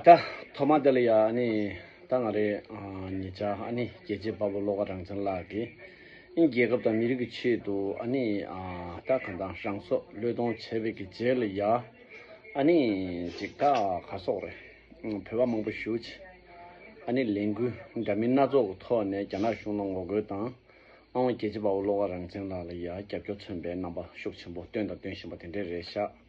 ད་ཐོག་མ་དེ་ལ་ཡ་ཨ་ནི། ད་ང་རེ་ཉེ་ཆར་ཨ་ནི་རྒྱལ་གཅེས་དཔའ་བོ་བློ་དགའ་རང་བྱང་ལགས་ཀྱིས། ཨིན་རྒྱལ་ཁབ་དང་མི་རིགས་ཀྱི་ཆེད་དུ་ཨ་ནི། ད་གང་ལྟར་རང་སྲོག་བློས་གཏོང་བྱས་པའི་གི་རྗེས་ལ་ཡ་ཨ་ནི། ཅིག་ད་ག་སོག་རེ། བོད་པ་མང་པོ་བཞུགས་ཆེ། ཨ་ནི་ལས་འགུལ་འདྲ་མིན་སྣ་ཚོགས་ཀྱི་ཐོག་ནས་རྒྱ་ནག་གཞུང་ལ་ངོ་རྒོལ་དང། ཨང་བ་རྒྱལ་གཅེས་དཔའ་བོ་བློ་དགའ་རང་བྱང་ལགས་ལ་ཡ་རྒྱབ་སྐྱོར་མཚོན་པའི་རྣམ་པ་ཤུགས་ཆེན་པོ་བཏོན་དང་སྟོན་བཞིན་པ་དེ་འདྲས་རེད་ཤག།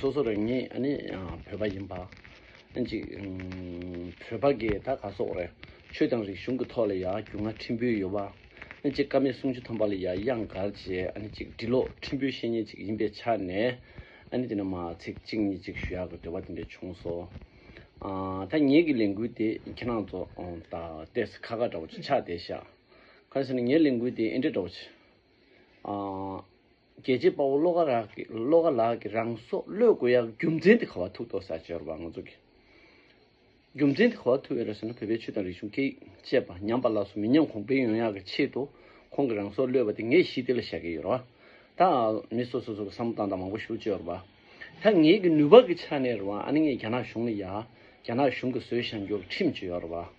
སོ་སོ་རང་ཉིད་ནི་བོད་པ་ཡིན་པ། གཅིག་བོད་པ་གི་ད་ག་སོག་རེད། ཆོས་དང་རིག་གཞུང་གི་ཐོག་ལ་ཡ་རྒྱུ་ང་ཁྲིམས་པོའི་ཡོ་བ། གཅིག་ཀ་མེད་གསུང་ཆོས་ཐོན་པ་ལ་ཡ་དབྱངས་གར་གྱི་གཅིག་འབྲི་ཀློག་ཁྲིམས་པོའི་བཤེས་གཉེན་གཅིག་ཡིན་པའི་ཆ་ནས། དེ་ནི་མ་ཚིག་གཅིག་གཉིས་གཅིག་ཞུ་ཡ་གི་འབྲེལ་བ་དེ་འདྲས་བྱུང་སོ། ད་ངེད་ཀྱི་ལས་འགུལ་དེ་ཁྱེད་རང་ཚོ་ད་ལྟས་སུ་ཁ་ཁ་འདྲ་བོ་ཆགས་བསྡད་ཤག། གང་ཟེར་ན་ངའི་ལས་འགུལ་དེ་ཨེ་འདྲས་འདྲ་བོ་ཆགས། རྒྱལ་གཅེས་དཔའ་བོ་བློ་དགའ་ལགས་ཀྱིས་བློ་དགའ་ལགས་ཀྱིས་རང་སྲོག་བློས་དགོས་ཡག་རྒྱུ་མཚན་དེ་ག་བ་ཐུག་ཐོག་ས་ཆ་རུ་བ་ང་ཚོ་གི་རྒྱུ་མཚན་དེ་ག་བ་ཐུག་ཡོད་རེད་ཟེར་ན་བོད་པའི་ཆོས་དང་རིག་གཞུང་སྐད་ཡིག་བཅས་པ་ཉམས་པ་ལགས་སོ་མི་ཉམས་གོང་འཕེལ་ཡོང་ཡག་གི་ཆེད་དུ་ཁོང་གི་རང་སྲོག་བློས་བ་དེ་ངས་ཞི་བདེ་ལ་བཞག་གི་ཡོད་ར་བ། ད་མི་སོ་སོ་སོ་གི་བསམ་བློ་དང་དང་མང་པོ་ཞུ་ཅོག་ར་བ། ད་ངས་གི་ནུས་པ་གི་ཆ་ནས་ར་བ་ཨ་ནི་ངས་རྒྱ་ནག་གཞུང་ལ་ཡག་རྒྱ་ནག་གཞུང་གི་བཟོད་བཞག་འགྱོག་ཁྲིམས་ཅི་ཡོག་ར་བ།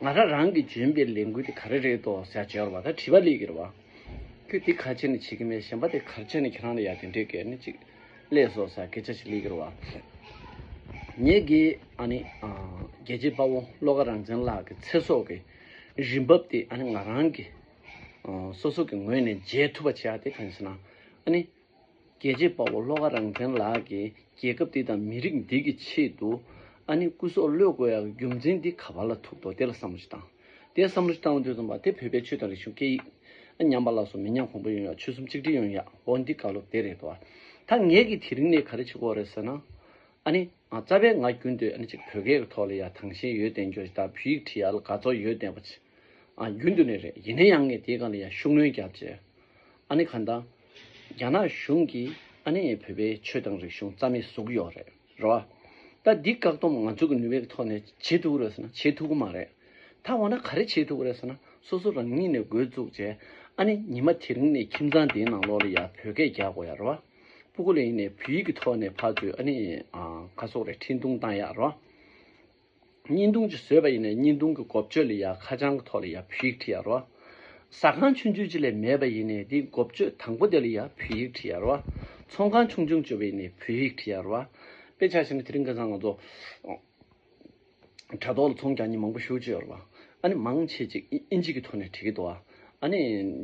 ང་རང་རང་གིས་འཇོན་པའི་ལས་འགུལ་དེ་ག་རེ་རེད་དོ་ཟེར་བྱས་བར་བ་ད་བྲིས་པ་ལས་ཀྱི་རེད་བ། ཁྱོད་དེ་ག་ཆེ་ནས་བྱེད་ཀྱི་མེད་གཞན་པ་དེ་གར་བྱས་ནས་ཁྱེད་རང་ལ་ཡར་དེ་འདྲས་གལ་ནི་ཅིག་ལས་སོ་ཟེར་སྐད་ཆ་ཞིག་ལས་ཀྱི་རེད་བ། ངས་དགེ་ཨ་ནི་རྒྱལ་གཅེས་དཔའ་བོ་བློ་དགའ་རང་བཙན་ལགས་ཀྱི་ཚེ་སྲོག་གི་རིན་འབབ་དེ་ཨ་ནི་ང་རང་གིས་སོ་སོ་གི་ངོས་ནས་འཇལ་ཐུབ་པ་བྱས་ཨ་དེ་གང་ཞེ་ན་ཨ་ནི། རྒྱལ་གཅེས་དཔའ་བོ་ལྷོ་ཁ་རང་བཙན་ལགས་ཀྱིས་རྒྱལ་ཁབ་འདི་དང་མི་རིགས་འདི་གི་ཆེད་དུ་ཨ་ནི་སྐུ་སྲོག་བློས་དགོས་ཡག་རྒྱུ་མཚན་འདི་ག་བར་ལ་ཐུག་འདོག་དེ་ལ་བསམ་བློ་ཞིག་བཏང་དེ་བསམ་བློ་ཞིག་བཏང་དུས་རྩོམ་པ་དེ་བོད་པའི་ཆོས་དང་རིག་གཞུང་སྐད་ཡིག་ཨ་ཉམས་པ་ལགས་སོ་མི་ཉམས་གོང་འཕེལ་ཡོང་ཡག་ཆོལ་གསུམ་གཅིག་སྒྲིལ་ཡོང་ཡག་འོ་འདི་ག་ལོ་དེ་རེད་དོ་ད་ངས་ཀྱི་དེ་རིང་ནས་ག་རེ་བྱེད་དགོས་རེད་ཟེར་ན་ཨ་ནི་རྩ་བའི་ང་རྒྱུན་དུ་ཨ་ནི་གཅིག་བོད་སྐད་གི་ཐོག་ལ་ཡག་དྭངས་ཤིང་ཡོད་བསྟན་རྒྱུ་རེད་ད་བོད་ཡིག་ཁྲི་ཡག་ལ་དགའ་ཚོར་ཡོད་བསྟན་པ་ཆེ་ཨ་རྒྱུན་དུ་ནས་རེད་ཡིན་ན་ཡང་ངས་དེའི་སྒང་ལ་ཡག་ཤུགས་སྣོན་རྒྱབ་ཅེས་ཨ་ནི་ག་ད། རྒྱ་ནག་གཞུང་གིས་ཨ་ནེ་ཡི་བོད་པའི་ཆོས་དང་རིག་གཞུང་རྩ་མེད་བཟོ་གི་ཡོད་རེད་རོ། ད་འདི་བཀག་སྡོམ་ང་ཚོ་གི་ནུས་པའི་ཐོག་ནས་བྱེད་ཐུབ་རེད་ཟེར་ན་བྱེད་ཐུབ་གི་མ་རེད། ད་འོ་ན་ག་རེ་བྱེད་ཐུབ་རེད་ཟེར་ན་སོ་སོ་རང་ཉིད་ནས་འགོས་བཙུགས་རྗེས་ཨ་ནེ་ཉི་མ་དེ་རིང་ནས་ཁྱིམ་ཚང་དེའི་ནང་ལོགས་ལ་ཡ་བོད་སྐད་རྒྱག་དགོས་ཡ་རོ། སྤུ་གོ་ལེ་ཡིན་ནས་བོད་ཡིག་གི་ཐོག་ནས་ཕ་ཚོས་ཨ་ནེ་ཡི་ཁ་སོགས་རེ་འཕྲིན་ཐུང་བཏང་ཡ་རོ། བརྙན་ཐུང་ཅིག་བཟོས་པ་ཡིན་ནའི་བརྙན་ཐུང་གི་གོ་ཆོད་ལ་ཡང་ཁ་བྱང་གི་ཐོག་ལ་ཡང་བོད་ཡིག་བྲི་ཡ་རོགས། ཟ་ཁང་ཆུང་ཆུང་ཅིག་ལས་མེད་པ་ཡིན་ནའི་དེའི་གོ་ཆོད་དང་པོ་དེ་ལ་ཡང་བོད་ཡིག་བྲི་ཡ་རོགས། ཚོང་ཁང་ཆུང་ཆུང་བྱོས་པ་ཡིན་ནའི་བོད་ཡིག་བྲི་ཡ་རོགས། དཔེ་ཆ་ཞིག་ནི་དེ་རིང་ག་ཚང་ང་ཚོ་དྲ་ཐོག་ལ་ཚོང་གྱ་གཉིས་མང་པོ་ཞུགས་བྱས་ཡོད་རོགས། ཨ་ནི་མང་ཆེ་ཅིག་ཨིན་ཇི་གི་ཐོག་ནས་བྲི་གི་འདུག་ཨ། ཨ་ནི་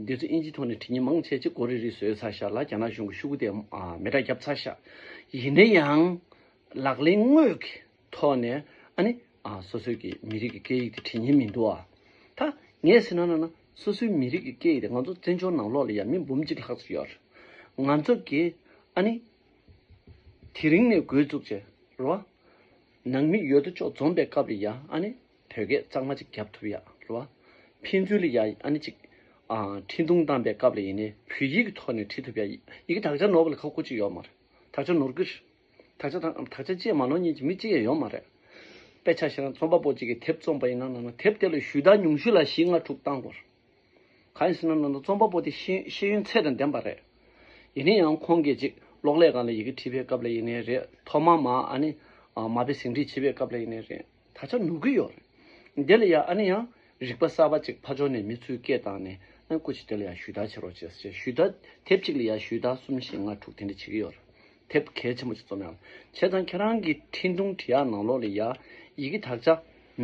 འདི་ཚོ་ཨིན་ཇིའི་ཐོག་ནས་བྲི་མཁན་མང་ཆེ་ཅིག་གོ་རེ་རེ་བཟོས་ཚར་ཤག་ལ་རྒྱ་ནག་གཞུང་གི་ཤུགས་དེ་མེ་དགྲ་རྒྱབ་ཚར་ཤག་ཡིན་ན་ཡང་ལག་ལེན་དངོས་ཀྱི་ཐོག་ནས་ཨ་ནི། སོ་སོའི་གི་མི་རིགས་ཀྱི་སྐད་ཡིག་དེ་བྲིས་ཉན་མི་འདུག་ཨ། ད་ངས་ཟེར་ན་ན་ན། སོ་སོའི་མི་རིགས་ཀྱི་སྐད་ཡིག་དེ་ང་ཚོ་བཙན་བྱོལ་ནང་ལོགས་ལ་ཡང་མི་འབུམ་གཅིག་ལྷག་ཙམ་ཡོད། ང་ཚོ་གི་ཨ་ནི། དེ་རིང་ནས་དགོས་བཙུགས་རྗེས་ལོ། ནང་མི་ཡོད་དོ་ཅོག་འཛོམས་པའི་སྐབས་ལ་ཡང་ཨ་ནི། བོད་སྐད་གཙང་མ་ཅིག་བརྒྱབ་ཐུབ་ཡ་ལོ། ཕན་ཚུན་ལ་ཡང་ཨ་ནི་ཅིག། འཕྲིན་ཐུང་བཏང་པའི་སྐབས་ལ་ཡིན་ནའི་བོད་ཡིག་གི་ཐོག་ནས་བྲིས་ཐུབ་ཡ། ཡི་གེ་དག་ཆ་ནོར་བ་ལ་ཁག་པོ་ཅིག་ཡོད་མ་རེད། དག་ཆ་ནོར་གི་རེད། དག་ཆ་དང་དག་ཆ་བཅས་མ་ནོར་གཉིས་ཀྱི་མི་གཅིག་ཡང་ཡོད་མ་རེད། དཔེ་ཆ་ཞིག་ན་རྩོམ་པ་པོ་གཅིག་གིས་དེབ་རྩོམ་པ་ཡིན་ན་ནང་ན་དེབ་དེ་ལ་ཞུས་དག་ཉུང་ཤོས་ལ་བཞི་ལྔ་དྲུག་བཏང་དགོས། གང་ཡིན་ཟེར་ན་ནང་ན་རྩོམ་པ་པོ་དེ་ཤེས་ཡོན་ཚད་དང་ལྡན་པ་རེད། ཡིན་ན་ཡང་ཁོང་གིས་ཅིག་གློག་ཀླད་སྒང་ལ་ཡི་གེ་བྲིས་པའི་སྐབས་ལ་ཡིན་ནའི་རེད་ཐོག་མ་མ་ཨ་ནི་མ་དཔེ་ཟིན་བྲིས་བྱེད་པའི་སྐབས་ལ་ཡིན་ནའི་རེད། ད་ཆ་ནུབ་གི་ཡོད་རེད། དེ་ལ་ཡང་ཨ་ནི་ཡང་རིག་པ་གསར་པ་ཅིག་ཕ་ཇོ་ནས་མི་ཚུལ་སྐད་བཏང་ནས་ཨ་ནི་ཀུ་ཅི་དེ་ལ་ཡང་ཞུས་དག་བྱེད་རོགས་བྱས་ཟེར་ཞུས་དག་དེབ་ཅིག་ལ་ཡང་ཞུས་དག་གསུམ་བཞི་ལྔ་དྲུག་དེ་འདྲ་བྱེད་ཀྱི་ཡོད་རེད་དེབ་གལ་ཆེན་པོ་ཅིག་རྩོམ་ཡག་བྱས་ཙང་ཁྱེད་རང་གི་འཕྲིན་ཐུང་འབྲི་ཡག་ནང་ལོག་ལ་ཡག་ཡི་གེ་དག་ཆ་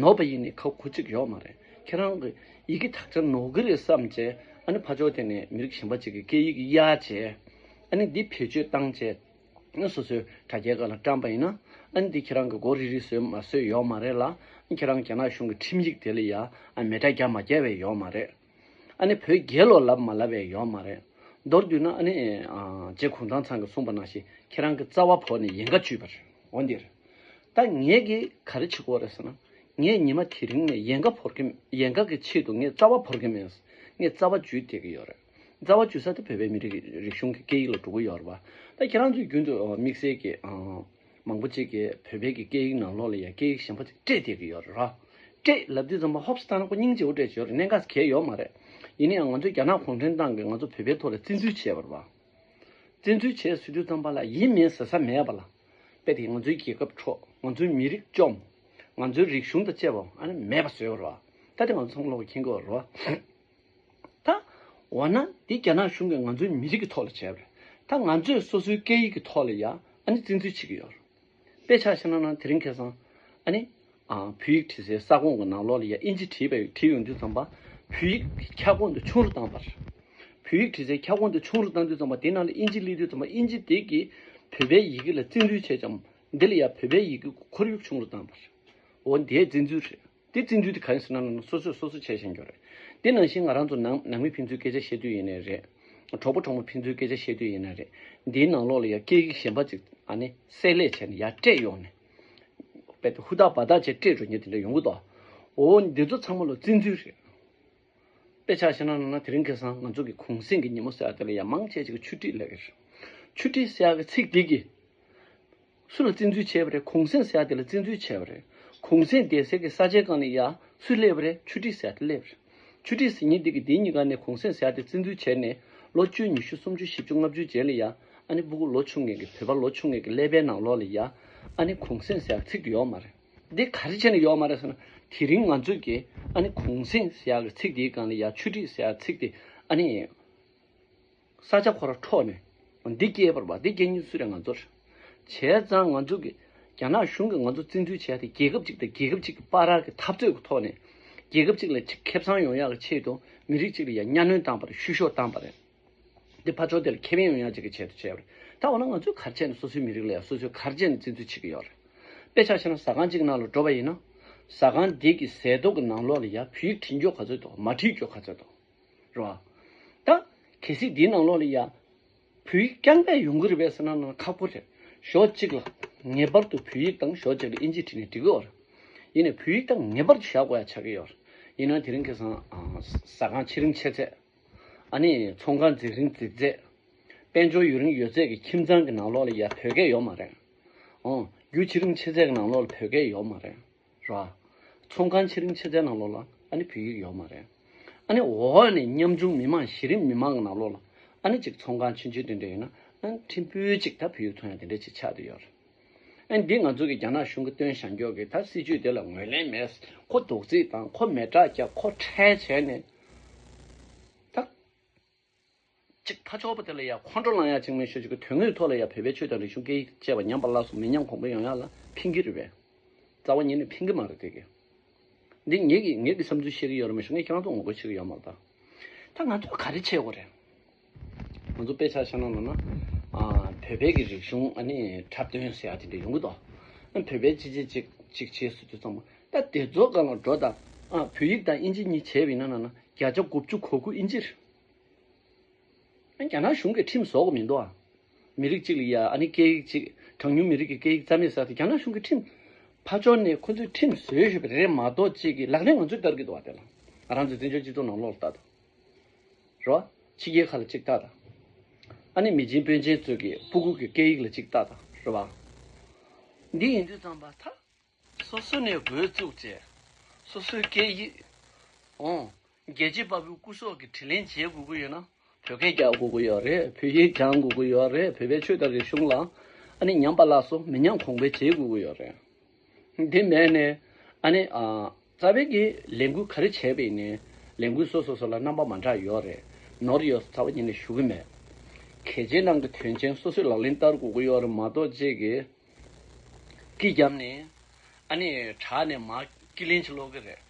ནོར་བ་ཡིན་ནི་ཁག་ཁུར་ཅིག་ཡོད་མ་རེད་ཁྱེད་རང་གི་ཡི་གེ་དག་ཆ་ནོར་གི་རེད་བསམ་བྱས་ཨ་ནི་ཕ་ཇོ་དེ་ནས་མི་རིགས་གཞན་པ་ཅིག་གི་སྐད་ཡིག་གི་གཡག་བྱས་ཨ་ནི་འདི་བེད་སྤྱོད་བཏང་བྱས། སོ་སོའི་དྲ་རྒྱའི་སྒང་ལ་བཀྲམ་པ་ཡིན་ན། འདི་ཁྱེད་རང་གི་མགོ་རིལ་རིལ་བཟོས་མ་བཟོས་ཡོག་མ་རེད་ལ། ཁྱེད་རང་རྒྱ་ནག་གཞུང་གི་ཁྲིམས་ཡིག་དེ་ལ་ཡང་མེད་དྲ་རྒྱ་མ་རྒྱ་བས་ཡོག་མ་རེད། ཨ་ནི་བོད་རྒྱལ་ལོ་ལབ་མ་ལབ་བས་ཡོག་མ་རེད། མདོར་བསྡུས་ན་ཨ་ནི། རྗེ་གུང་ཐང་ཚང་གི་གསུངས་པ་ནང་བཞིན་ཁྱེད་རང་གི་རྩ་བ་བོར་ནས་ཡན་ག་བཅུས་པར་འོ་འདིར། ད་ངས་གི་ག་རེ་བྱེད་དགོས་རེད་ཟེར་ན། ངས་ཉི་མ་དེ་རིང་ནས་ཡན་ག་བོར་གི་ཡན་ག་གི་ཆེད་དུ་ངས་རྩ་བ་བོར་གི་མེད། ངས་རྩ་བ་བཅུས་བསྡད་ཀྱི་ཡོག་རེད། རྩ་བ་བཅུ་གསར་དུ་བོད་པའི་མི་རིགས་རིག་གཞུང་གི་སྐད་ཡིག་ལ་གྲུ་གུ་ཡོར་བ། ད་ཁྱེད་རང་ཚོས་རྒྱུན་དུ་དམིགས་བསལ་གྱི། མང་པོ་ཅིག་གིས་བོད་པའི་གི་སྐད་ཡིག་ནང་ལོགས་ལ་ཡང་སྐད་ཡིག་གཞན་པ་ཅིག་སྤྲད་བསྡད་ཀྱི་ཡོད་རེད། སྤྲད་ལབ་དུས་ཙམ་མ་ཧོབ་སི་ཐང་ན་ཁོ་སྙིང་རྗེ་བོ་སྤྲད་བྱོས་རེད་གནད་འགག་གལ་ཡོད་མ་རེད། ཡིན་ན་ཡང་ང་ཚོའི་རྒྱ་ནག་གུང་ཁྲན་ཏང་གིས་ང་ཚོ་བོད་པའི་ཐོག་ལ་བཙན་འཛུལ་བྱས་པར། བཙན་འཛུལ་བྱས་ཟེར་དུས་ཙམ་པ་ལ་ཡིན་མིན་ཟེར་ས་མེད་པ་ལ། དཔེ་དེ་ང་ཚོའི་རྒྱལ་ཁབ་འཕྲོག་ང་ཚོའི་མི་རིགས་བཅོམ། ང་ཚོའི་རིག་གཞུང་དང་བཅས་པའང་ཨ་ནི་མེད་པ་བཟོས་པ་རེད། ད་དེ་ང་ཚོ་ཚང་མ་ལོགས་ཀྱི་མཁྱེན་གྱི་ཡོད་རེད། ད། འོ་ན་འདི་རྒྱ་ནག་གཞུང་གིས་ང་ཚོའི་མི་རིགས་ཀྱི་ཐོག་ལ་བྱས་པ་རེད། ད་ང་ཚོས་སོ་སོའི་སྐད་ཡིག་གི་ཐོག་ལ་ཡང་ཨ་ནི་བཙན་འཛུལ་བྱེད་ཀྱི་ཡོད་རེད། དཔེ་ཆ་ཤེས་ན་ན་དེ་རིང་ཁེ་སང། ཨ་ནི། བོད་ཡིག་བྲིས་སའི་ས་ཁོངས་ཀྱི་ནང་ལོགས་ལ་ཡང་ཨིན་ཇི་བྲིས་པའི་བྲིས་ཡོང་དུས་ཙམ་པ། བོད་ཡིག་གི་ཁྱབ་ཁོངས་དེ་ཆུང་རུ་བཏང་བ་རེད། བོད་ཡིག་བྲིས་སའི་ཁྱབ་ཁོངས་དེ་ཆུང་རུ་བཏང་དུས་ཙམ་པ་དེ་ནང་ལ་ཨིན་ཇི་བསླེབས་དུས་ཙམ་པ་ཨིན་ཇི་དེ་གིས་བོད་པའི་ཡི་གེ་ལ་བཙན་འཛུལ་བྱས་ཀྱང་འདི་ལ་ཡང་བོད་པའི་ཡི་གེ་གི་ཁོར་ཡུག་ཆུང་རུ་བཏང་བ་རེད། འོ་འདི་བཙན་འཛུལ་རེད། དེ་བཙན་འཛུལ་དེ་ག་རེ་སོ་ན་ནང་ན་སོ་སོས་སོ་སོ་བྱས་བཞིན་ཡོད་རེད། དེ་ནང་བཞིན་ང་རང་ཚོ་ནང་ནང་མི་ཕན་ཚུན་སྐད་ཆ་བཤད་དུས་ཡིན་ནའི་རེད། གྲོགས་པོ་གྲོགས་མོ་ཕན་ཚུན་སྐད་ཆ་བཤད་དུས་ཡིན་ནའི་རེད། འདིའི་ནང་ལོགས་ལ་ཡང་སྐད་ཡིག་གཞན་པ་ཅིག་ཨ་ནི་བསྲེས་ལས་བྱས་ནས་ཡར་སྤྲད་ཡོང་ནས། རྦད་དེ་ཧུར་ཐག་འབའ་ཐག་བཅས་སྤྲད་འགྲོ་ཉེ་དེ་འདྲ་ཡོང་གི་འདུག་ཨོ། འདི་ཚོ་ཚང་མ་ལོ་བཙན་འཛུལ་རེད། དཔེ་ཆ་བཤད་ན་ནང་ན་དེ་རིང་ཁེ་སང་ང་ཚོ་གི་གུང་སེང་གི་ཉིན་མོ་གསལ་བ་དེ་ལ་ཡང་མང་ཆེ་ཆེ་གི་ཆུ་ཏྲིས་ལེགས། ཆུ་ཏྲིས་གསལ་བ་གི་ཚིག་འདི་གིས། སུ་ལ་བཙན་འཛུལ་བྱས་པ་རེད་གུང་སེང་ཟེར་ཡ་དེ་ལ་བཙན་འཛུལ་བྱས་པ་རེད་གུང་སེང་དེ་ཟེར་གི་ས་ཆའི་སྒང་ནས་ཡ་སུས་སླེབས་པ་རེད་ཆུ་ཁྲི་ཟེར་ཡ་དེ་སླེབས་རེད་ཆུ་ཁྲི་ཟེར་ཉིན་དེ་གི་དེ་གཉིས་ཀ་ནས་གུང་སེང་ཟེར་ཡ་དེ་བཙན་འཛུལ་བྱས་ནས་ལོ་བཅུ་ཉི་ཤུ་སུམ་ཅུ་བཞི་བཅུ་ལྔ་བཅུའི་རྗེས་ལ་ཡ་ཨ་ནི་སྤུ་གུ་ལོ་ཆུང་ངེད་ཀྱི་བོད་པ་ལོ་ཆུང་ངེད་ཀྱི་ཀླད་པའི་ནང་ལོག་ལ་ཡ་ཨ་ནི་གུང་སེང་ཟེར་ཡ་ཚིག་དེ་ཡོག་མ་རེད་དེ་ག་རེ་བྱས་ནས་ཡོག་མ་རེད་ཟེར་ན་དེ་རིང་ང་ཚོས་ཀྱི་ཨ་ནི་གུང་སེང་ཟེར་ཡ་གི་ཚིག་དེའི་སྒང་ལ་ཡ་ཆུ་ཁྲི་ཟེར་ཡ་ཚིག་དེ་ཨ་ནི། ས་ཆ་ཁོ་ར་འཕྲོག་ནས་འདི་སྐྱེས་པར་བ་འདི་སྐྱེས་ཉིན་སུས་རེད་ང་ཚོར་བྱས་ཙང་ང་ཚོ་གི་རྒྱ་ནག་གཞུང་གི་ང་ཚོ་བཙན་འཛུལ་བྱས་ཏེ་རྒྱལ་ཁབ་ཅིག་དང་རྒྱལ་ཁབ་ཅིག་གི་དཔའ་རག་གི་འཐབ་རྩོད་གི་ཐོག་ནས་རྒྱལ་ཁབ་ཅིག་ལ་ཅིག་ཁེབས་ཚང་ཡོང་ཡག་གི་ཆེད་དུ་མི་རིགས་ཅིག་ལ་ཡ་གཉའ་གནོན་བཏང་པར་བཤུ་གཞོག་བཏང་པ་རེད་འདི་ཕར་ཕྱོགས་དེ་ལ་ཁེ་ཕན་ཡོང་ཡག་ཅིག་གི་ཆེད་དུ་བྱས་པ་རེད་ད་འོ་ན་ང་ཚོའི་གར་བྱས་ནས་སོ་སོའི་མི་རིགས་ལ་ཡ་སོ་སོའི་གར་བྱས་ནས་བཙན་འཛུལ་བྱེད་གི་ཡོག་རེད་དཔེ་ཆ་ཤེ་ན་ཟ་ཁང་ཅིག་ནང་ལ་འགྲོ་བ་ཡིན་ན་ཟ་ཁང་དེ་གི་ཟས་ཏོག་གི་ནང་ལོག་ལ་ཡ་བུ་ཡིག་བྲིས་འགྱོག་ག་ཚོད་དང་མ་བྲིས་འགྱོག་ག་ཚོད་དང། རེད་བ། ད། གལ་སྲིད་འདིའི་ནང་ལོགས་ལ་ཡང། བོད་ཡིག་རྐྱང་པས་ཡོང་གི་རེད་བས་ཟེར་ན་ནང་ཁག་པོ་རེད། ཞོག་གཅིག་ལ། ངེས་པར་དུ་བོད་ཡིག་དང་ཞོག་གཅིག་ལ་དབྱིན་ཇི་བྲིས་ནས་འབྲི་དགོས་བ་རེད། ཡིན་ནས་བོད་ཡིག་དང་ངེས་པར་དུ་བཞག་དགོས་ཡ་ཆགས་ཀྱི་ཡོད་རེད། ཡིན་ནའང་དེ་རིང་ཁེ་སང། ཟ་ཁང་ཕྱེ་རིང་ཕྱེ་ཚད། ཨ་ནི་ཚོང་ཁང་འཛེགས་རིང་འཛེགས་ཚད། དཔལ་འབྱོར་ཡོད་རིང་ཡོད་ཚད་ཀྱི་ཁྱིམ་ཚང་གི་ནང་ལོགས་ལ་ཡ་བོད་སྐད་ཡོག་མ་རེད། འོང། རྒྱུ་ཕྱེ་རིང་ཕྱེ་ཚད་ཀྱི་ནང་ལོགས་ལ་བོད་སྐད་ཡོག་མ་རེད། ར། ཚོང་ཁང་ཆེ་རིམ་ཆེ་ཚའི་ནང་ལོགས་ལ་ཨ་ནི་བོད་ཡིག་ཡོག་མ་རེད། ཨ་ནི་འོག་ནས་ཉམ་ཆུང་མི་མང་གཞི་རིམ་མི་མང་གི་ནང་ལོགས་ལ་ཨ་ནི་ཅིག་ཚོང་ཁང་ཆུན་ཆུན་ཏིན་ཏིན་ཡོད་ན་ཨ་ནི་ཁྲིམས་དཔོན་ཅིག་ད་བོད་ཡིག་ཚོང་ཡ་དེ་འདྲས་ཅིག་ཆགས་དུ་ཡོད་རེད། ཨ་ནི་འདི་ང་ཚོ་གི་རྒྱ་ནག་གཞུང་གི་སྟོན་ཞང་འགྱོག་གི་ད་སྲིད་ཇུས་དེ་ལ་ངོས་ལེན་མེད་ཁོ་དོགས་རྩིས་དང་ཁོ་མེད་དྲག་རྒྱག་ཁོ་ཁྲལ་བྱས་ནས་ད། གཅིག་ཕ་ཆོག་པ་དེ་ལ་ཡང་ཁོང་ཁྲོ་ལངས་ཡག་གཅིག་མེད་ཤོད་ཅིག་གི་དོན་དངོས་ཐོག་ལ་ཡང་བོད་པའི་ཆོས་དང་རིག་གཞུང་སྐད་ཡིག་བཅས་པ་ཉམས་པ་སླ་སོ་མི་ཉམས་གོང་འཕེལ་ཡོང་ཡག་ལ་ཕིན་གི་རེད་བས། རྩ་བ་ཉིད་ནས་ཕིན་གི་མ་རེད་དེ་གི། འདི་ངེད་ཀྱི་ངེད་ཀྱི་བསམ་ཚུལ་བཤད་གི་ཡོད་རེད་མ་ཤེས་ངས་ཁྱེད་རང་ཚོ་ངོ་རྒོལ་བྱེད་གི་ཡོད་མ་རེད་ད། ད་ང་ཚོས་ག་རེ་བྱེད་དགོས་རེད། ང་ཚོ་དཔེ་ཆ་ཤ་ན་ལོ་ན། བོད་པའི་གི་རིག་གཞུང་འཁྲབ་སྟོན་ཟེར་ཡག་ཅིག་འདི་ཡོང་གི་འདུག། བོད་པའི་སྤྱི་བྱེ་གཅིག་གཅིག་བྱེད་སུ་ཚོད་ཙམ། སྟབས་བདེ་མཛོད་དགའ་ལོང་སྒྲོ་དང། བོད་ཡིག་དང་དབྱིན་ཇི་གཉིས་བྱས་པའི་ནང་ན་ན་བརྒྱ་ཆ་དགུ་བཅུ་གོ་དགུ་དབྱིན་ཇིར། རྒྱ་ནག་གཞུང་གིས་ཁྲིམས་བཟོ་གི་མི་འདུག་ཨ། མི་རིགས་གཅིག་ལ་ཡ་ཨ་ནི་སྐད་ཡིག་གཅིག་གྲངས་ཉུང་མི་རིགས་ཀྱི་སྐད་ཡིག་རྩ་མེད་བསགས་ཏེ་རྒྱ་ནག་གཞུང་གིས་ཁྲིམས། ཕ་ཕྱོགས་ནས་ཁོ་ཚོས་ཁྲིམས་བཟོས་ཞུས་པ་རེད་མ་གཏོགས་གཅིག་གིས་ལག་ལེན་ང་ཚོས་བསྟར་གི་འདུག་ཨ་དེ་ལ་རང་ཚོའི་བཙན་བྱོལ་སྤྱི་ཚོགས་ནང་ལོག་ལྟ་དང། རོ། ཕྱི་རྒྱལ་ཁ་ལ་གཅིག་ལྟ་དང། ཨ་ནི་མི་ཆེན་དཔོན་ཆེན་ཚོས་ཀྱི་སྤུ་གུག་གི་སྐད་ཡིག་ལ་གཅིག་ལྟ་དང་རོ། འདི་ཡིན་དུས་ཙམ་པ་ཐག། སོ་སོ་ནས་འགོས་བཙུགས་བཅས་སོ་སོའི་སྐད་ཡིག། རྒྱལ་གཅེས་དཔའ་བོའི་སྐུ་སྲོག་གི་དྲིན་ལན་འཇལ་དགོས་ཀྱི་ཡོད་ན། བོད་སྐད་རྒྱག་དགོས་ཀྱི་ཡོད་རེད་བོད་ཡིག་སྦྱང་དགོས་ཀྱི་ཡོད་རེད་བོད་པའི་ཆོས་དང་རིག་གཞུང་ལ་ཨ་ནི་ཉམས་པ་ལགས་སོ་མི་ཉམས་གོང་འཕེལ་བྱེད་དགོས་ཀྱི་ཡོད་རེད། དེ་མེད་ནས་ཨ་ནི་རྩ་བའི་གི་ལས་འགུལ་ག་རེ་བྱས་པའི་ནི་ལས་འགུལ་སོ་སོ་སོ་ལ་རྣམ་པ་མ་འདྲ་ཡོད་རེད་ནོར་ཡོད་རྩ་བ་ཉིད་ནས་ཞུ་གི་མེད། གལ་ཆེ་ནང་གི་དོན་ཆེན་སོ་སོས་ལག་ལེན་བསྟར་དགོས་ཀྱི་ཡོད་རེད་མ་གཏོགས་རྗེས་ཀྱི། ཀི་རྒྱབ་ནས། ཨ་ནེ། དྲག་ནས་མ། ཀི་ལིན་ཆི་ལོག་གི་རེད།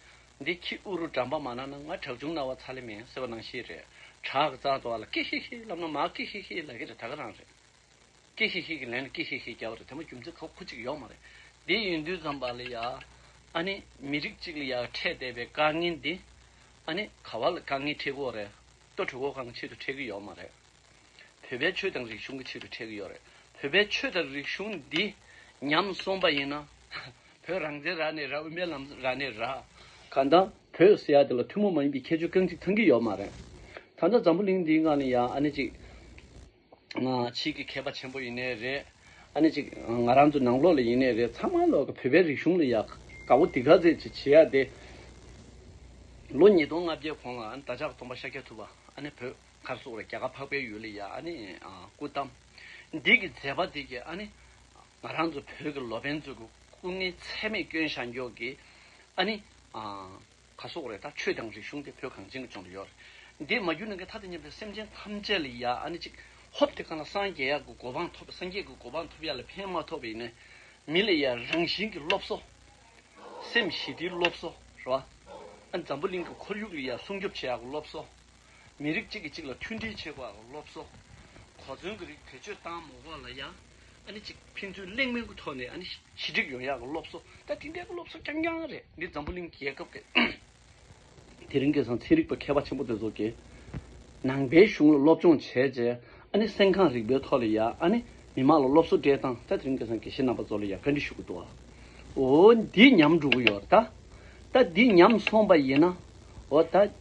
འདི་ཁྱི་ཨུ་རུ་འགྲམ་པ་མ་ནང་ན་ང་དྲག་ཆུང་རྣ་བ་ཚ་ལེ་མེད་ཟེར་བ་ནང་ཤི་རེད། དྲག་གི་རྩ་དོག་ལ་ཀི་ཧི་ཧི་ལབ་ན་མ་ཀི་ཧི་ཧི་ལ་གི་རེད་ད་ག་རང་རེད། ཀི་ཧི་ཧི་གི་ལན་ལ་ཀི་ཧི་ཧི་རྒྱབ་པ་རེད་དེ་མ་རྒྱུ་མཚན་ཁོ་གཅིག་ཡོག་མ་རེད། འདི་ཡིན་དུས་ཙམ་པ་ལ་ཡ། ཨ་ནེ། མི་རིགས་གཅིག་ལ་ཡ་འཕྲད་བསྡད་པའི་དཀའ་ངལ་འདི། ཨ་ནེ། ག་བ་ལ་དཀའ་ངལ་འཕྲད་གི་འོག་རེད། ལྟོ་གྲོད་ཁོག་གང་ཆེད་དུ་འཕྲད་གི་ཡོག་མ་རེད། བོད་པའི་ཆོས་དང་རིག་གཞུང་གི་ཕྱི་རུ་འཕྲད་ཀྱི་ཡོད་རེད། བོད་པའི་ཆོས་དང་རིག་གཞུང་འདི་ཉམས་སོང་པ་ཡིན་ན། བོད་རང་བཙན་རག་ནས་རག་དབུ་མའི་ལམ་རག་ནས་རག། ག་ད་བོད་སི་ཡ་དེ་ལ་ཐུན་མོང་མ་ཡིན་པའི་ཁྱད་ཆོས་རྐང་གཅིག་ཚང་གི་ཡོད་མ་རེད། ད་ལྟ་འཛམ་བུ་གླིང་འདིའི་ངང་ལ་ཡང་ཨ་ནེ་གཅིག་བྱེད་ཀྱི་མཁས་པ་ཆེན་པོ་ཡིན་ནའི་རེད། ཨ་ནེ་གཅིག་ང་རང་ཚོ་ནང་ལོག་ལ་ཡིན་ནའི་རེད་ཚང་མ་ལོག་གི་བོད་པའི་རིག་གཞུང་ལ་ཡ་ག་བོ་དི་ག་ཟེར་གྱི་བྱེད་ཡ་དེ། ལོ་ཉིས་སྟོང་ལྔ་བརྒྱའི་གོང་ལ་ཨ་ནེ་ད་ཅག་སྟོང་པ་ཤཱཀྱ་ཐུབ་པ་ཨ་ནེ་བོད། མཁར་སོགས་ལ་རྒྱལ་ཁ་འཕགས་པའི་ཡུལ་ལ་ཡང་ཨ་ནི་སྐུ་བལྟམས། འདི་གི་མཛད་པ་དེ་ཀྱིས་ཨ་ནི། ང་རང་ཚོ་བོད་ཀྱི་ལོ་པན་ཚོས་ཀྱི་སྐུ་ངལ་ཚད་མེད་སྐྱོན་བཞག་མགྱོགས་ཀྱིས་ཨ་ནི། ཁ་སོགས་རེད་ད་ཆོས་དང་རིག་གཞུང་དེ་བོད་གངས་ཅན་གྱི་ལྗོངས་ལ་ཡོད་རེད། འདི་མ་གྱུར་ན་ཀྱི་ད་ལྟ་མཉམ་པའི་སེམས་ཅན་ཐམས་ཅད་ལ་ཡང་ཨ་ནི་གཅིག་ཧོབ་དེ་གང་ལ་སངས་རྒྱས་ཡག་གི་གོ་འཕང་ཐོབ་སངས་རྒྱས་ཀྱི་གོ་འཕང་ཐོབ་ཡག་ལ་ཕན་མ་ཐོབ་པ་ཡིན་ན་མི་ལ་ཡང་རང་བཞིན་གྱི་སློབ་གསོ། སེམས་ཞི་བདེའི་སློབ་གསོ་རེད་བ། ཨ་ནི་འཛམ་བུ་གླིང་གི་ཁོར་ཡུག་ལ་ཡང་སྲུང་སྐྱོབ་བྱེད་ཡག་གི་སློབ་གསོ། མི་རིགས་གཅིག་གིས་གཅིག་ལ་མཐུན་སྒྲིལ་བྱེད་པར་སློབ་གསོ། གོ་མཚོན་གྱི་རིགས་བེད་སྤྱོད་བཏང་མ་བ་ལ་ཡང་གཅིག་ཕན་ཚུན་གླེང་མོལ་གྱི་ཐོག་ནས་ཞི་འགྲིག་ཡོང་ཡག་གི་སློབ་གསོ་ད་དེ་འདྲའི་སློབ་གསོ་རྐྱང་རྐྱང་རེད་འདི་འཛམ་བུ་གླིང་རྒྱལ་ཁབ་ཀྱི་དེ་རིང་སྐད་གསང་ཚིག་རིག་པ་མཁས་པ་ཆེན་པོ་དེ་ཚོ་གིས་ནང་པའི་གཞུང་ལ་སློབ་སྦྱོང་བྱས་རྗེས་སེམས་ཁམས་རིག་པའི་ཐོག་ལ་ཡང་མི་མང་ལ་སློབ་གསོ་སྤྲད་སྟངས་ད་དེ་རིང་སྐད་གསང་དགེ་བཤེས་རྣམ་པ་ཚོ་ལ་ཡང་བཀའ་འདྲི་ཞུ་གི་འདུག་ཨོ་འདི་ཉམས་འགྲོ་གི་ཡོད་ད། ད་འདི་ཉམས་སོང་པ་ཡིན་ན་ཨོ་ད།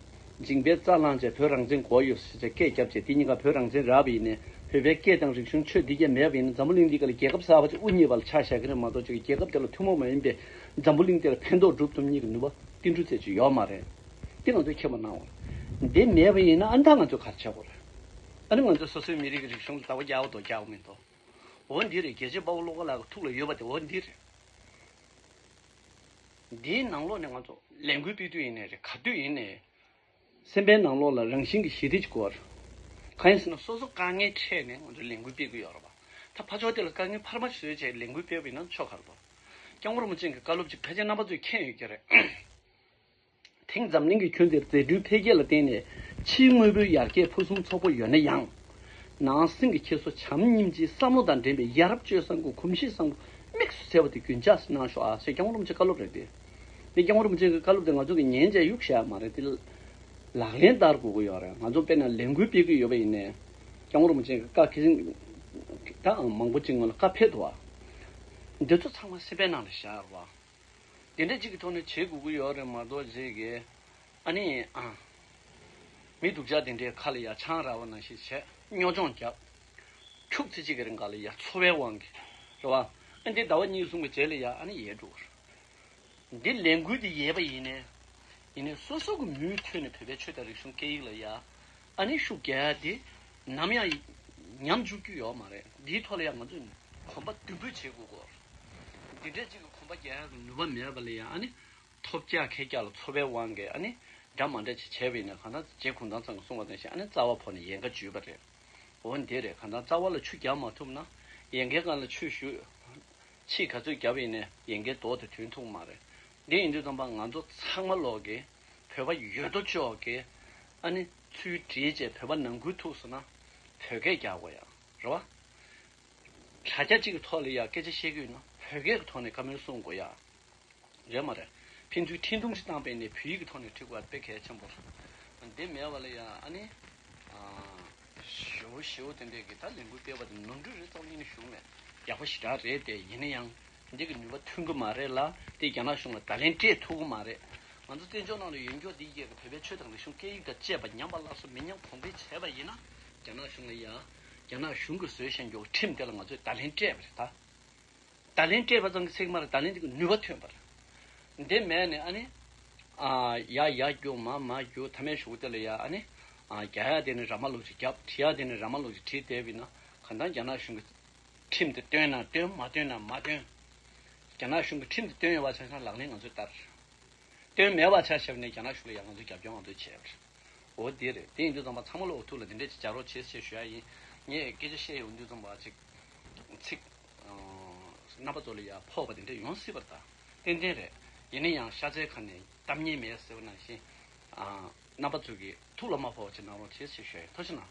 འཇིང་པའི་རྩ་བླངས་བཅས་བོད་རང་བཙན་གོ་བ་ཡོད་ཟེར་བྱས་སྐད་བརྒྱབ་བྱས་དེ་གཉིས་ཀ་བོད་རང་བཙན་རག་པ་ཡིན་ནས་བོད་པའི་སྐད་དང་རིག་གཞུང་ཆོས་འདི་བརྒྱད་མེད་པ་ཡིན་ན་འཛམ་བུ་གླིང་འདི་ག་ལ་རྒྱལ་ཁབ་གསར་བ་ཅིག་དབུ་བརྙེས་པ་ལ་ཆ་བཞག་གི་རེད་མ་གཏོགས་ཅིག་རྒྱལ་ཁབ་དེ་ལ་ཐུན་མོང་མ་ཡིན་པའི་འཛམ་བུ་གླིང་འདི་ལ་ཕན་ཐོགས་སྒྲུབ་ཐུབ་གཉིས་ཀྱི་ནུས་པ་ཏིལ་འབྲུ་རྩེ་གཅིག་ཡོད་མ་རེད་དེ་ང་ཚོས་མཁྱེན་པ་གནང་བ་རེད་དེ་མེད་པ་ཡིན་ན་ཨ་མདའ་ང་ཚོས་གར་བྱ་དགོས་རེད་ཨ་ནི་ང་ཚོས་སོ་སོའི་མི་རིགས་ཀྱི་རིག་གཞུང་ལ་དར་བ་རྒྱག་དོ་རྒྱག་མི་དོ་འོ་འདི་རེད་རྒྱལ་གཅེས་དཔའ་བོ་བློ་དགའ་ལགས་ཀྱི་ཐུགས་ལ་ཡོད་པ་དེ་འོ་འདི་རེད། འདིའི་ནང་ལོགས་ནི་ང་ཚོ་ལས་འགུལ་སྤེལ་དུས་ཡིན་ནའི་རེད་ག་དུས་ཡིན་ནའི། སེམས་པའི་ནང་ལོགས་ལ་རང་བཞིན་གྱི་ཞི་བདེ་ཅིག་དགོས། གང་ཡིན་ཟེར་ན་སོ་སོ་དཀའ་ངལ་འཕྲད་ནས་ང་ཚོ་ལས་འགུལ་སྤེལ་དགོས་ཡོད་རེད་བ། ད་ཕ་ཆོག་དེ་ལ་དཀའ་ངལ་འཕར་མ་བཟོས་བྱས་ལས་འགུལ་སྤེལ་བ་ཡིན་ན་ཆོག་ག་རེད་བ། སྐྱབས་མགོན་རིན་པོ་ཆེན་གྱི་བཀའ་སློབ་ཅིག་ཕལ་ཆེར་རྣམ་པ་ཚོས་མཁྱེན་ཡོད་ཀྱི་རེད། དེང་འཛམ་གླིང་གི་ཁྱོན་འདིར་རྫས་འགྲུལ་འཕེལ་རྒྱས་ལ་བརྟེན་ནས་ཕྱིའི་དངོས་པོའི་ཡར་རྒྱས་ཕུན་སུམ་ཚོགས་པོ་ཡོད་ན་ཡང། ནང་སེམས་ཀྱི་འཁྱེར་སོ་བྱམས་སྙིང་རྗེའི་བསམ་བློ་དང་འགྲན་པའི་ཡ་རབས་སྤྱོད་བཟང་གི་གོམས་གཤིས་བཟང་པོ་དམིགས་སུ་བྱས་པ་དེ་རྒྱུན་འཇགས་སུ་གནང་ཤོག་ཨ་ཞེས་སྐྱག་མོ་རུམ་ཆེན་བཀའ་སློབ་རེད་དེ། འདི་སྐྱག་མོ་རུམ་ཆེན་གྱི་བཀའ་སློབ་དེ་ང་ཚོ་གི་ཉན་བྱའི་གཡུག་བྱ་མ་རེད་དེ། ལག་ལེན་བསྟར་དགོས་ཀྱི་ཡོད་རེད་ང་ཚོ་དཔེར་ན་ལས་འགུལ་སྤེལ་གྱི་ཡོད་པ་ཡིན་ནས། སྐྱག་མོ་རུམ་ཆེན་གྱི་བཀའ་ཁྱེད་ད་ཨང་མང་པོ་ཅིག་སྔོན་ལ་བཀའ་ཕེབས་འདུག་བ། འདི་ཚོ་ཚང་མ་ཤེས་པའི་ནང་ལ་བཞག་རོགས། དེ་འདྲ་གཅིག་གི་ཐོག་ནས་བྱེད་དགོས་ཀྱི་ཡོད་རེད་མ་གཏོགས་བྱེད་དགོས་ཨ་ནི་ཨང། མི་སྡུག་ཅག་དེ་འདྲའི་ཁ་ལ་ཡར་ཆང་ར་བ་ན་ཞིག་བྱས་སྨྱོ་སྦྱོང་རྒྱབ། ཁྱུག་ཙེ་གཅིག་གི་རེ་འགའ་ལ་ཡར་འཚོ་བའི་དབང་གིས་རེད་བ། ཨ་འདི་ཟླ་བ་གཉིས་གསུམ་གི་རྗེས་ལ་ཡར་ཨ་ནི་ཡལ་འགྲོ་བ་རེད། འདི་ལས་འགུལ་འདི་ཡལ་བ་ཡིན་ནས། ཡིན་ནས་སོ་སོ་གི་མུས་མཐུད་ནས་བོད་པའི་ཆོས་དང་རིག་གཞུང་སྐད་ཡིག་ལ་ཡར་ཨ་ནི་ཤུགས་རྒྱས་ཏེ་ནམ་ཡང་ཉམས་འཇུག་རྒྱུ་ཡོད་མ་རེད་འདིའི་ཐོག་ལ་ཡང་ང་ཚོས་གོམ་པ་མདུན་སྤོས་བྱེད་དགོས་སྐོར། འདི་འདྲའི་གཅིག་གི་གོམ་པ་རྒྱག་ཡག་གི་ནུས་པ་མེད་པ་ལས་ཡང་ཨ་ནི་ཐོབ་རྒྱ་ཁད་རྒྱ་ལ་ཚོར་བའི་དབང་གིས་ཨ་ནི་འདྲ་མ་འདྲ་ཅིག་བྱས་པ་ཡིན་ན་གང་ལྟར་རྗེ་གུང་ཐང་ཚང་གི་གསུང་བ་དང་བཞིན་ཨ་ནི་རྩ་བ་ཕོག་ནས་ཡལ་ག་འཇུས་པ་རེད། འོ་འདི་རེད་གང་ལྟར་རྩ་བ་ལ་ཆུ་རྒྱག་མ་ཐུབ་ན་ཡལ་གའི་སྒང་ལ་ཆུ་བཞུར། ཕྱིས་ག་ཚོད་བརྒྱབ་ཡིན་ནས་ཡལ་གའི་མདོག་དེ་དོན་ཐུག་གི་མ་རེད། འདི་ཡིན་དུས་རྩམ་པ་ང་ཚོ་ཚང་མ་ལོག་གི། བོད་པ་ཡོད་དོ་ཅོག་གིས་ཨ་ནི་ཚུལ་བྲིས་བཅས་བོད་པ་ནང་ཁུལ་ཐུགས་སུ་ན་བོད་སྐད་རྒྱག་དགོས་ཡ་རེད་བ། དྲ་རྒྱ་གཅིག་གི་ཐོག་ལ་ཡང་སྐད་ཆ་བཤད་དགོས་ན་བོད་སྐད་ཀྱི་ཐོག་ནས་བཀའ་མོལ་གསུང་དགོས་ཡ་རེད་མ་རེད། ཕན་ཚུལ་འཕྲིན་ཐུང་ཞིག་བཏང་པས་ནས་བོད་ཡིག་གི་ཐོག་ནས་བྲི་དགོས་ཡ་དཔེ་གལ་ཆེན་པོ་རེད། དེ་མེད་བ་ལ་ཡང་ཨ་ནི། ཞེའུ་བཞི་བོ་དེ་འདྲས་ཀྱིས་ད་ལས་འགུལ་སྤེལ་བ་དེ་ནོར་འཁྲུལ་རེད་བསམ་གྱིན་བཞུགས་མེད། ཡག་པོ་ཞེ་དྲག་རེད་དེ་ཡིན་ན་ཡང་འདི་གི་ནུས་པ་ཐོན་གི་མ་རེད་ལ་དེ་རྒྱ་ནག་གཞུང་ལ་ད་ལན་སྤྲད་ཐུབ་གི་མ་རེད། ང་ཚོ་བཙན་བྱོལ་ནང་ལ་ཡོད་མགྱོགས་འདི་ཡས་ཀྱི་བོད་པའི་ཆོས་དང་རིག་གཞུང་སྐད་ཡིག་དང་བཅས་པ་ཉམས་པ་སླར་གསོ་མི་ཉམས་གོང་འཕེལ་བྱས་པ་ཡིན་ན། རྒྱ་ནག་གཞུང་ལ་ཡང་རྒྱ་ནག་གཞུང་གིས་བཟོས་བཞིན་མགྱོགས་ཁྲིམས་དེ་ལ་ང་ཚོས་ད་ལན་སྤྲད་པ་རེད་ད། ད་ལན་སྤྲད་པ་ཙམ་གྱི་ཚེགས་མར་ད་ལན་དེ་གི་ནུས་པ་ཐོན་པར། དེ་མེད་ནས་ཨ་ནི། ཡ་ཡ་རྒྱུག་མ་མ་རྒྱུག་ཐ་མའི་ཞོགས་དེ་ལ་ཡ་ཨ་ནི། རྒྱག་ཡ་དེ་ནི་ར་མ་ལོག་ཅིག་རྒྱབ་བྲི་ཡ་དེ་ནི་ར་མ་ལོག་ཅིག་བྲི་དེ་བས་ན་གང་ལྟར་རྒྱ་ནག་གཞུང་གི་ཁྲིམས་དེ་བཏོན་ན་བཏོན་མ་བཏོན་ན་མ་བཏོན། རྒྱ་ནག་གཞུང་གི་ཁྲིམས་དེ་བཏོན་ཡོད་བ་ཆ་ཚང་ལག་ལེན་ང་ཚོས་བསྟར། བཏོན་མེད་བ་ཆ་ཞེ་བ་ནས་རྒྱ་ནག་གཞུང་ལ་ཡ་ང་ཚོས་རྒྱབ་སྐྱོར་ང་ཚོས་བྱེད། འོ་དེ་རེད་དེ་ཡིན་དུས་ཚང་མ་ཚང་མ་ལོག་ཐུག་ལ་དེ་འདྲས་ཅིག་བྱ་རོགས་བྱེད་ཞེས་ཞུ་ཡ་ཡིན། ངས་སྐད་ཆ་བཤད་ཡོང་དུས་ཚང་མ་ཚིག། རྣམ་པ་ཚོ་ལ་ཡང་ཕོག་པ་དེ་འདྲ་ཡོང་སྲིད་པར་ཐག་ཏན་ཏན་རེད། ཡིན་ན་ཡང་ཤ་ཚའི་ཁ་ནས་གཏམ་ཉེས་མེད་ཟེར་བ་ནང་བཞིན། རྣམ་པ་ཚོ་གིས་ཐུགས་ལ་མ་ཕོག་བ་ཅིག་གནང་རོགས་བྱེད་ཅེས་ཞུ་ཡོད། ཐུགས་རྗེ་གནང།